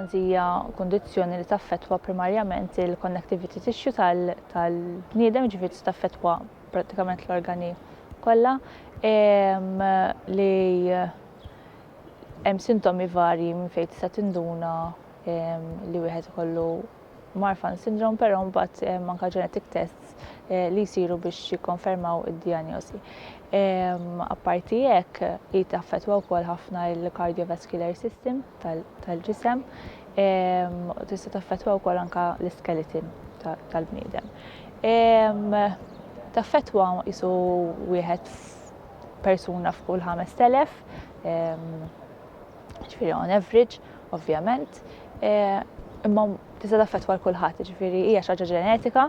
L-orfans hija kundizzjoni li taffettwa primarjament il-connectivity tissue tal-bniedem, ġifieri tista' taffettwa prattikament l-organi kollha li hemm sintomi varji minn fejn tista' tinduna li wieħed ikollu Marfan syndrome, però mbagħad hemm anke genetic tests eh, li jsiru biex jikkonfermaw id-dijanjosi. Ehm, apparti hekk, hi taffettwa wkoll ħafna l-cardiovascular system tal-ġisem, ehm, tista' taffettwa wkoll anke l-iskeleton tal-bniedem. Ehm, taffettwa jisu wieħed persuna f'kull 5000 ġifieri on average, ovvjament, imma tista' taffettwa l kulħadd, ġifieri hija xi ħaġa ġenetika,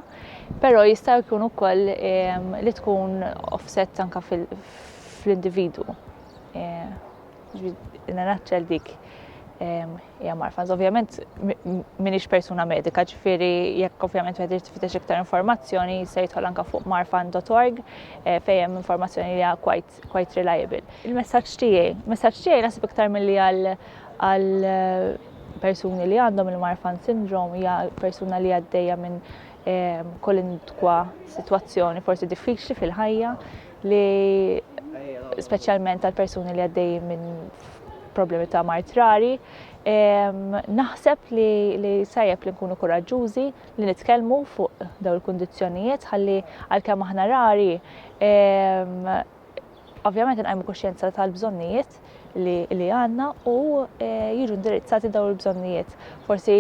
però jista' jkun ukoll li tkun offset anka fl-individu. Nanaċċel dik hija marfa. Ovvjament minix persuna medika, ġifieri jekk ovvjament wieħed irid tifittex iktar informazzjoni se jidħol anka fuq marfan.org fejn hemm informazzjoni li hija quite kont quite reliable. Il-messaġġ tiegħi, messaġġ tiegħi naħseb iktar milli għal għal eh, persuni li għandhom il-Marfan syndrome hija persuna li għaddejja minn ehm, kolindkwa sitwazzjoni forsi diffiċli fil-ħajja li speċjalment għal persuni li għaddej minn problemi ta' martrari, ehm, naħseb li, li sajjeb li nkunu kuraġġużi, li nitkellmu fuq dawn il-kundizzjonijiet ħalli għalkemm aħna rari ovvjament inqajmu kuxjenza tal-bżonnijiet li għandna u e, jiġu indirizzati dawn il-bżonnijiet. Forsi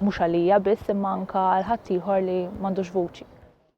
mhux għalija biss imma anka għal ħaddieħor li m'għandux vuċi.